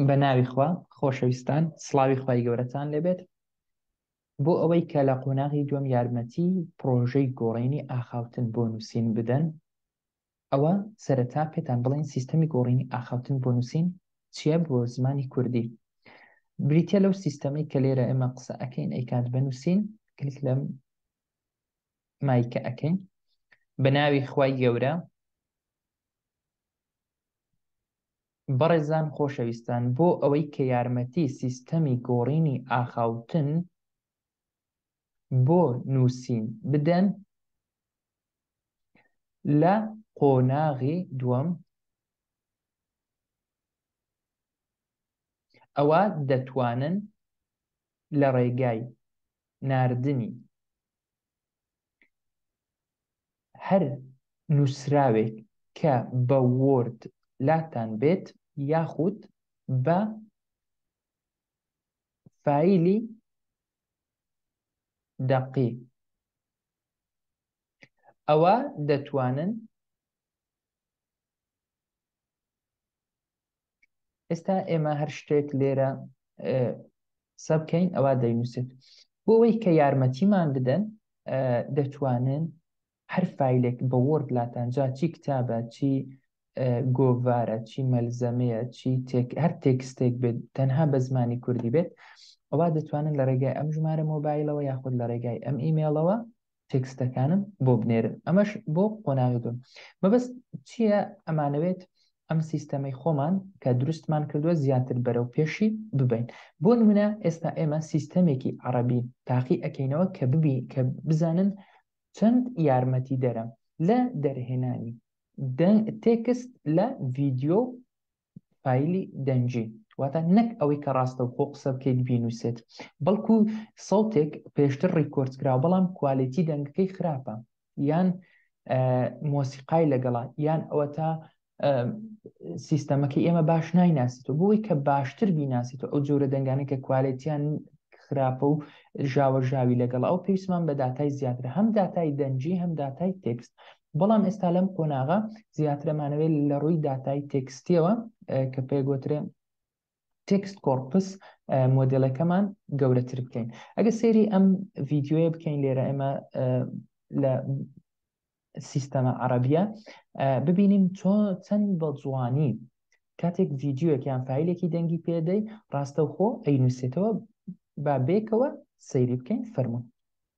بە ناوی خوا خۆشەویستان سڵاوی خوای گەورەتان لێبێت بۆ ئەوەی کە لە قۆناغی دوم یارمەتی پرۆژەی گۆڕینی ئاخاوتن بۆ نووسین بدەن ئەوە سەرەتا پێتان بڵین سیستەمی گۆڕینی ئاخاوتن بۆ نووسین چییە بۆ زمانی کوردی بریتە لەو سیستەمەی کە لێرە ئێمە قسە ئەەکەین ئەیکات بە نووسین کلیک لەم مایکە ئەەکەین بە ناوی خوای گەورە بەڕێزان خۆشەویستان بۆ ئەوەی کە یارمەتی سیستەمی گۆڕینی ئاخاوتن بۆ نووسین بدەن لە قۆناغی دووەم ئەوا دەتوانن لە ڕێگای ناردنی هەر نوسراوێک کە بە وۆرد لاتان بێت یاخود بە فایلی دەقی ئەوە دەتوانن ئێستا ئێمە هەر شتێک لێرە سەبکەین ئەوە دەینووسێت بۆەوەی کە یارمەتیمان بدەن دەتوانن هەر فیلێک بە وەرد لاتانجا چی کتابە چی گۆڤارە چی مەلزەمەیە چی هەر تێکستێک بێت تەنها بە زمانی کوردی بێت ئەوە دەتوانن لە ڕێگای ئەم ژمارە مۆبایلەوە یاخود لە ڕێگای ئەم ئیمێڵەوە تێکستەکانم بۆ بنێرن ئەمەش بۆ قۆناغی دوم مەبەست چییە ئەمانەوێت ئەم سیستەمەی خۆمان کە دروستمان کردووە زیاتر بەرەو پێشی ببین بۆ نمونە ئێستا ئێمە سیستەمێکی عربی تاقی ئەکەینەوە کە ببی کە بزانن چەند یارمەتی دەرە لە دەرهێنانی تێکست لە ڤیددیو فایلی دەنگی واتە نەک ئەوەی کە ڕاستە و خۆ قسە بکەیت بینوسێت بەڵکو سەوتێک پێشتر ڕیکۆرد کرا بەڵام کوالێتی دەنگەکەی خراپە یان مۆسیقای لەگەڵا یان ئەوە تا سیستەمەکە ئێمە باش نایناسیت و بۆی کە باشتر بیناسیت و ئەو جۆرە دەنگانە کە کوالێتیان خراپە و ژاوە ژاوی لەگەڵ ئەو پێویستمان بە داتای زیاتر هەم داتای دەنجی هەم داتای تێکست بەڵام ئێستا لەم قۆناغە زیاترەمانەوێت لە ڕووی داتای تێکستیەوە کە پێگوترێ تێکست کۆرپس مۆدلەکەمان گەورەتر بکەین ئەگە سێری ئەم ڤیددیوە بکەین لێرە ئێمە لە سیستەمە عربیە ببینین چۆن چەند بە جوانی کاتێک ڤیددیوەک یان فیلێکی دەنگی پێدەی ڕاستەوخۆ ئەینوسێتەوە با بێکەوە سەیری بکەین فەرمونون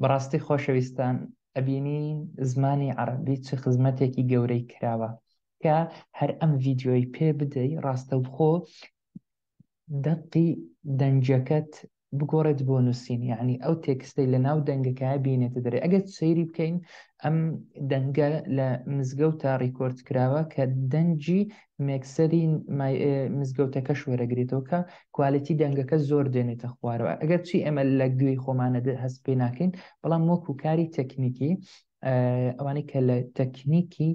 بەڕاستی خۆشەویستان ئەبینی زمانی عەڕەبی چ خزمەتێکی گەورەی کراوە کە هەر ئەم ڤیدیۆی پێ بدەی ڕاستەوخۆ دەقی دەنجەکەت بگۆڕێت بۆ نووسین یعنی ئەو تێکستەی لە ناو دەنگەکە بینێتە دەرێ ئەگەر سەیری بکەین ئەم دەنگە لە مزگەوتە ڕیکۆرد کراوە کە دەنجی مێکسەری مزگەوتەکەش وەرەگرێتەوە کە کوالێتی دەنگەکە زۆر دێنێتە خوارەوە ئەگەر چی ئێمە لە گوێی خۆمانە هەست پێ ناکەین بەڵام وەک و کاری تەکنیکی ئەوانەی کە لە تەکنیکی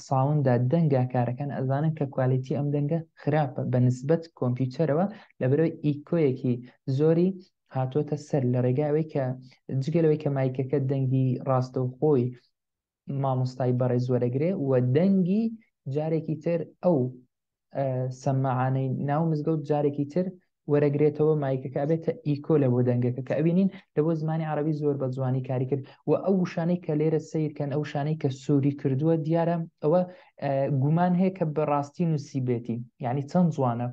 ساوندا دەنگا کارەکان ئەزانن کە کوالێتی ئەم دەنگە خراپە بە نسبەت کۆمپیوتەرەوە لە بەرەوەی ئیکۆیەکی زۆری هاتوۆتە سەر لە ڕێگاوەی کە جگەلەوەی کە مایکەکە دەنگی ڕاستەوخۆی مامۆستای بەڕێز وەرەگرێ و دەنگی جارێکی تر ئەو سەممەعانەی ناو مزگەوت جارێکی تر وەرەگرێتەوە مایکەکە بێتە ئیکۆ لە بۆ دەنگەکە کە ئەوینین لە بۆ زمانی عربی زۆر بە جوانی کاری کرد و ئەو شانەی کە لێرە سیرکەن ئەو شانەی کە سووری کردووە دیارە ئەوە گومان هەیە کە بەڕاستی نووسیبێتی یعنی چەند جوانە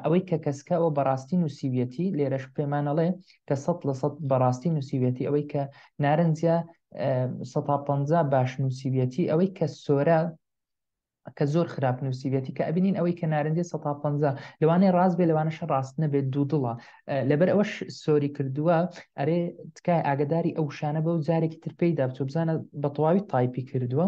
ئەوەی کە کەسکە ئەوە بەڕاستی نووسیویەتی لێرەش پێمانەڵێ کە سە لە سە بەڕاستی نووسیوێتی ئەوەی کە نارنجە 150 باش نووسیویەتی ئەوەی کە سۆرە کە زۆر خراپ نووسیویەتی کە ئەبینین ئەوەی کە نارنجێ 150 لەوانێ ڕاست بێ لەوانەش ڕاست نەبێت دوو دڵە لەبەر ئەوەش سۆری کردووە ئەرێ تکای ئاگداری ئەو شانە بەو جارێکی ترپیدا بچۆ بزانە بە تەواوی تایپی کردووە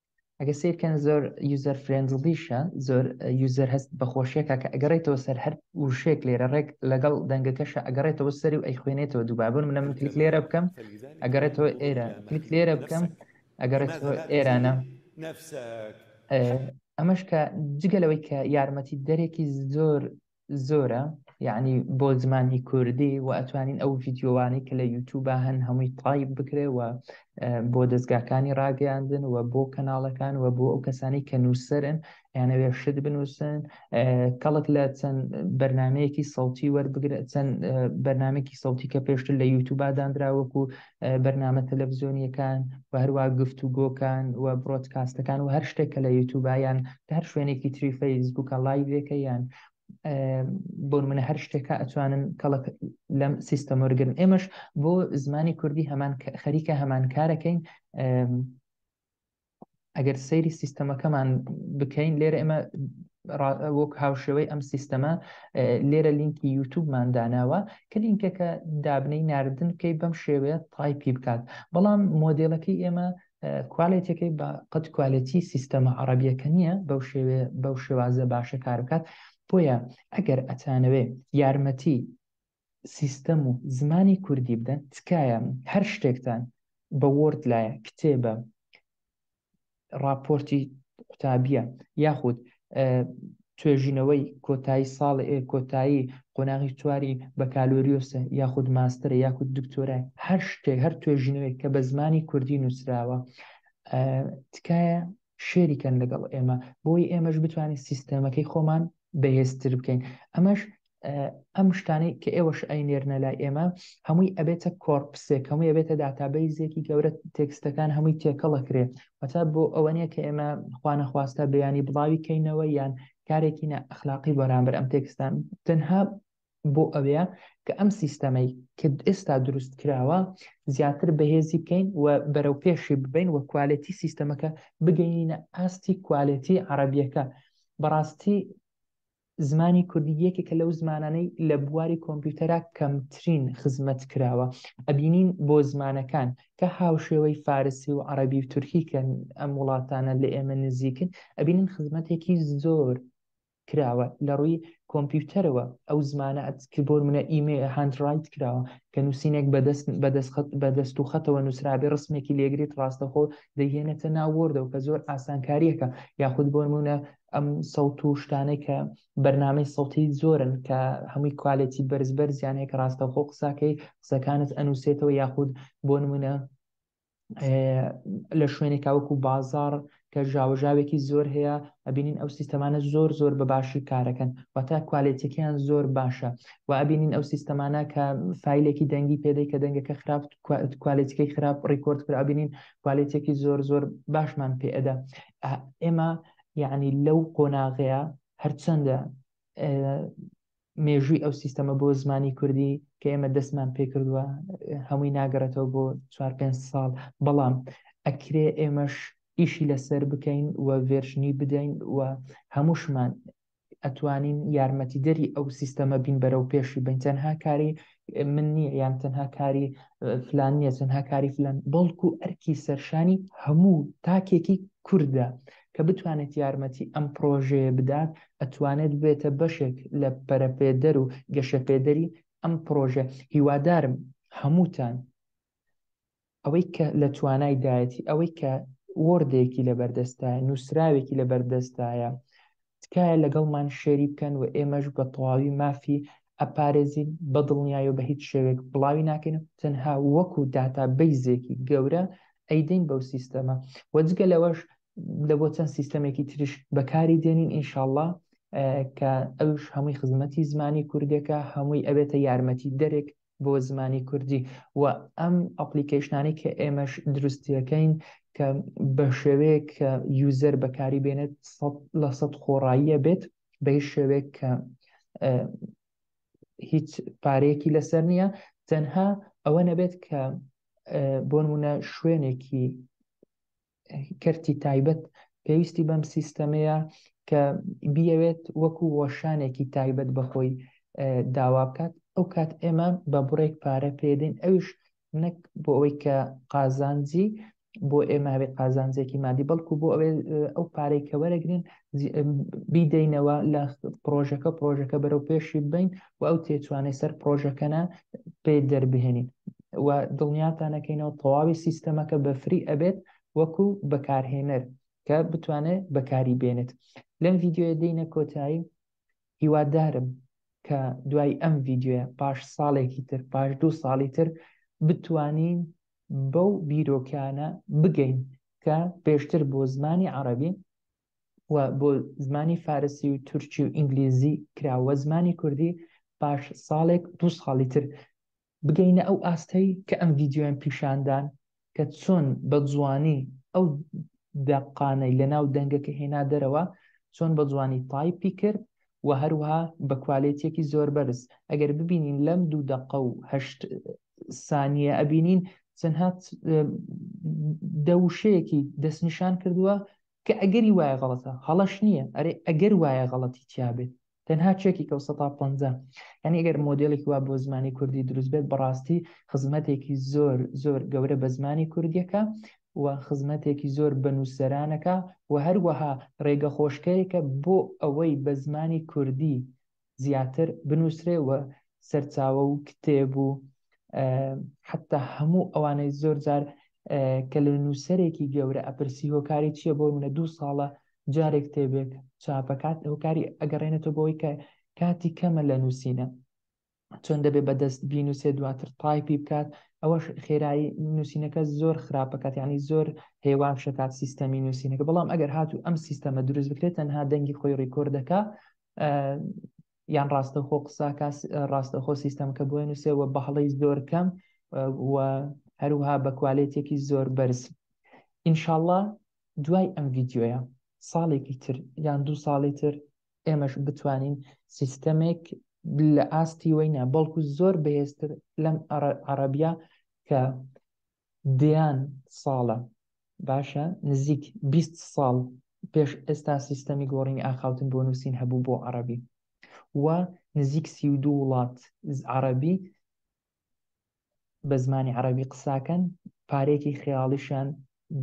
ئەگە سیرکەن زۆر یوزەر فرێندڵیشە زۆر یوزەر هەست بەخۆشیەکە کە ئەگەڕێتەوە سەر هەر وشێک لێرە ڕێک لەگەڵ دەنگەکەشە ئەگەڕێتەوە سەری و ئەی خوێنێتەوە دووبابن منە من کلیک لێرە بکەم ئەگەڕێتەوە ئێرە کلیک لێرە بکەم ئەگەڕێتەوە ئێرانە ئەمەش کە جگەلەوەی کە یارمەتی دەرێکی زۆر زۆرە یعنی بۆ زمانی کوردی و ئەتوانین ئەو ڤیددیوانەی کە لە یوتوبە هەن هەمووی تایب بکرێ و بۆ دەستگاکانی ڕاگەیاندن و بۆ کەناڵەکان و بۆ ئەو کەسانی کە نووسرن یانەوێ شت بنووسن کەڵک لە چەند بەرنمەیەکی سەڵتی وەربگرێت چەند بەرنمێکی سەڵتی کە پێشتر لە یوتوبداندراوەکو بەرنامە تەلەڤزیۆنیەکان و هەروە گفت و گۆکان و بڕۆتکاستەکان و هەر شتێک کە لە یوتوبیان هەر شوێنێکی تری فەیسبووکە لایڤەکە یان بۆ منە هەر شتێکە ئەتوانن کەڵک لەم سیستەمۆرگن ئێمەش بۆ زمانی کوردی هەمان خەریکە هەمان کارەکەین ئەگەر سەیری سیستەمەکەمان بکەین لێرە ئێمە وەک هاوشێوەی ئەم سیستەمە لێرە لینکی یوتوبمان داناوە کە لینکەکە دابنەی ناردن بکەیت بەم شێوەیە تایپی بکات بەڵام مۆدلەکەی ئێمە کوالێتەکەی بە قەت کوالێتی سیستەمە عربیەکە نییە بەو شێوێ بەو شێوازە باشە کار بکات بۆیە ئەگەر ئەتانەوێ یارمەتی سیستەم و زمانی کوردی بدەن تکایە هەر شتێکتان بە وۆرد لایە کتێبە ڕاپۆرتی قوتابیە یاخود توێژینەوەی کۆتایی ساڵ کۆتایی قۆناغی چواری بەکالۆریۆسە یاخود ماسترە یاخود دکتۆرای هەر شتێک هەر توێژینەوەی کە بە زمانی کوردی نووسراوە تکایە شێری کەن لەگەڵ ئێمە بۆی ئێمەش بتوانین سیستەمەکەی خۆمان بەهێزتر بکەین ئەمەش ئەم شتانەی کە ئێوەش ئەی نێرنە لای ئێمە هەمووی ئەبێتە کۆرپسێک هەمووی ئەبێتە داتابەیزێکی گەورە تێکستەکان هەمووی تێکەڵەکرێ وەتا بۆ ئەوە نیە کە ئێمە خوانەخواستە بیانی بڵاوی کەینەوە یان کارێکی نە ئەخلاقی بەرامبەر ئەم تێکستان تەنها بۆ ئەوەیە کە ئەم سیستەمەی کە ئێستا دروست کراوە زیاتر بەهێزی بکەین و بەرەو پێشی ببین و کوالەتی سیستەمەکە بگەینە ئاستی کوالەتی عربیەکە بەڕاستی زمانی کوردی یەکێکە لەو زمانانەی لە بواری کۆمپیوتەرا کەمترین خزمەت کراوە ئەبینین بۆ زمانەکان کە هاوشێوەی فارسی و عربی و تورکیکەن ئەم وڵاتانە لە ئێمە نزیکن ئەبینین خزمەتێکی زۆر کراوە لە ڕووی کۆمپیوتەرەوە ئەو زمانە ک بۆ نموونە ئیمە هاند ڕایت کراوە کە نووسینێک بە دەست بە دەست خەت بە دەست و خەتەوە نووسرابێ ڕسمێکی لێگریت ڕاستەخۆ دەیهێنێتە ناو وۆردەوە کە زۆر ئاسانکارییەکە یاخود بۆ نموونە ئەم سەوت و شتانەی کە بەرنامەی سەوتی زۆرن کە هەمووی کوالێتی بەرز بەرزیان هەیە کە ڕاستەخۆ قساکەی قسەکانت ئەنووسێتەوە یاخود بۆ نموونە لە شوێنی کاوەکو بازار کە ژاوەژاوێکی زۆر هەیە ئەبینین ئەو سیستەمانە زۆر زۆر بە باشی کارەکەن واتە کوالێتەکەیان زۆر باشە و ئەبینین ئەو سیستەمانە کە فیلێکی دەنگی پێدەی کە دەنگەکە خراپ کوالێتەکەی خراپ ڕیکۆرد کرا ئەبینین کوالێتێکی زۆر زۆر باشمان پێئەدا ئێمە یعنی لەو قۆناغەیە هەرچەندە مێژووی ئەو سیستەمە بۆ زمانی کوردی کە ئێمە دەستمان پێکردووە هەمووی ناگەڕێتەوە بۆ چوار پێ ساڵ بەڵام ئەکرێ ئێمەش ئیشی لەسەر بکەین و ڤێرشنی بدەین و هەمووشمان ئەتوانین یارمەتیدەری ئەو سیستەمە بین بەرەو پێشی بین تەنها کاری من نییە یان تەنها کاری فلان نییە تەنها کاری فلان بەڵکو ئەرکی سەرشانی هەموو تاکێکی کوردە کە بتوانێت یارمەتی ئەم پرۆژەیە بدات ئەتوانێت بێتە بەشێک لە پەرەپێدەر و گەشەپێدەری ئەم پرۆژە هیوادارم هەمووتان ئەوەی کە لە توانای دایەتی ئەوەی کە وۆردێکی لە بەردەستە نووسراوێکی لە بەردەستایە تکایە لەگەڵمان شێری بکەن و ئێمەش بە تەواوی مافی ئەپارێزین بە دڵنیای و بە هیچ شێوێک بڵاوی ناکەین و تەنها وەکو داتا بیزێکی گەورە ئەیدەین بەو سیستەمە و جگە لەوەش لە بۆ چەند سیستەمێکی تریش بەکاری دێنین ئینشاءله کە ئەوش هەمووی خزمەتی زمانی کوردەکە هەمووی ئەبێتە یارمەتی دەرێک بۆ زمانی کوردی و ئەم ئەپلیکەیشنانی کە ئێمەش دروستیەکەین کە بە شێوەیەک کە یوزەر بەکاری بێنێت لە سەد خۆڕاییە بێت بە شێوەیەک کە هیچ پارەیەکی لەسەر نییە تەنها ئەوە نەبێت کە بۆ نمونە شوێنێکی کەرتی تایبەت پێویستی بەم سیستەمەیە کە بیەوێت وەکو وەشانێکی تایبەت بەخۆی داوا بکات ئەو کات ئێمە بە بڕێک پارە پێدەین ئەوش نەک بۆ ئەوەی کە قازانجی بۆ ئێمە هەبێت قازانجێکی مادی بەڵکو بۆ ئەوێ ئەو پارێکە وەرەگرین بیدەینەوە لە پرۆژەکە پرۆژەکە بەرەو پێشی بین و ئەو تێچوانەی سەر پرۆژەکەە پێ دەربهێنین و دڵنیاتانەکەینەوە تەواوی سیستەمەکە بەفری ئەبێت وەکو بەکارهێنەر کە بتوانێت بەکاری بێنێت لەم ڤیددیوە دینە کۆتایی هیوادارم کە دوای ئەم ڤیددیوە پاش ساڵێکی تر پاش دو ساڵی تر بتوانین بەو بیرۆکانە بگەین کە پێشتر بۆ زمانی عربی و بۆ زمانی فارسی و تورکی و ئینگلیزی کراوە زمانی کوردی پاش ساڵێک دو ساڵی تر بگەینە ئەو ئاستەی کە ئەم ڤیددیویان پیشاندان کە چۆن بە جوانی ئەو دەقانەی لە ناو دەنگەکە هێنا دەرەوە چۆن بە جوانی تایپی کرد و هەروها بە کوالێتێکی زۆر بەرز ئەگەر ببینین لەم دوو دەقە و هەشت سانیە ئەبینین چەندها دەوشەیەکی دەستنیشان کردووە کە ئەگەری وایە غەڵەتە هەڵەش نییە ئەرێ ئەگەر وایە غەڵەتی تیا بێت تەنها چێکێکە و سەتا پەنجا یانی ئەگەر مۆدێلێکی وا بۆ زمانی کوردی دروست بێت بەڕاستی خزمەتێکی زۆر زۆر گەورە بە زمانی کوردیەکە و خزمەتێکی زۆر بە نووسەرانەکە و هەروەها ڕێگە خۆشکەرێکە بۆ ئەوەی بە زمانی کوردی زیاتر بنووسرێ و سەرچاوە و کتێب و حتا هەموو ئەوانەی زۆر جار کە لە نووسەرێکی گەورە ئەپرسی هۆکاری چییە بۆ منە دوو ساڵە جارێک تێبێک چاپەکات هۆکاری ئەگەڕێنێتەوە بۆی کە کاتی کەمە لە نووسینە چۆن دەبێ بەدەست بینوسێ دواتر تایپی بکات ئەوەش خێرایی نووسینەکە زۆر خراپەکات ینی زۆر هێوا شکات سیستەمی نووسینەکە بەڵام ئەگەر هاتوو ئەم سیستەمە دروست بکرێت تەنها دەنگی خۆی ڕیکۆردەکە یان ڕاستەخۆ قساکە ڕاستەخۆ سیستەم کە بۆێن و سێوە بەهڵی زۆر کەم و هەروها بە کوالێتێکی زۆر بەرز ئینشاءله دوای ئەم ڤیددیوە ساڵێکی تر یان دوو ساڵی تر ئێمەش بتوانین سیستەمێک لە ئاستی وەینە بەڵکو زۆر بەهێزتر لەم عربە کە دەیان ساڵە، باشە نزیک بیست ساڵ پێش ئێستا سیستەمی گۆڕینی ئاخاوتن بۆ نووسین هەبوو بۆ عەڕەبی و نزیک سی و دوو وڵات عەڕەبی بە زمانی عەڕەبی قساکەن، پارەیەکی خەیاڵیشیان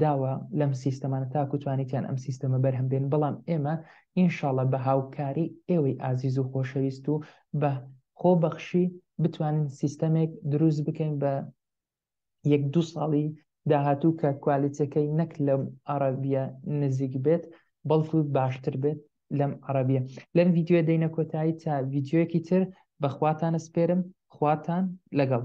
داوە لەم سیستەمانە تاکو توانیتیان ئەم سیستەمە بەرهەم بێنن، بەڵام ئێمە ئینشاڵڵا بە هاوکاری ئێوەی ئازیز و خۆشەویست و بە خۆبەخشی بتوانین سیستەمێک دروست بکەین بە یەک دوو ساڵی داهاتوو کە کوالیتیەکەی نەک لەم عەڕەبیە نزیک بێت بەڵکو باشتر بێت لەم عەڕەبیە لەم ڤیدیۆ دەینە کۆتایی تا ڤیدیۆیەکی تر بەخواتانە سپێرم خواتان لەگەڵ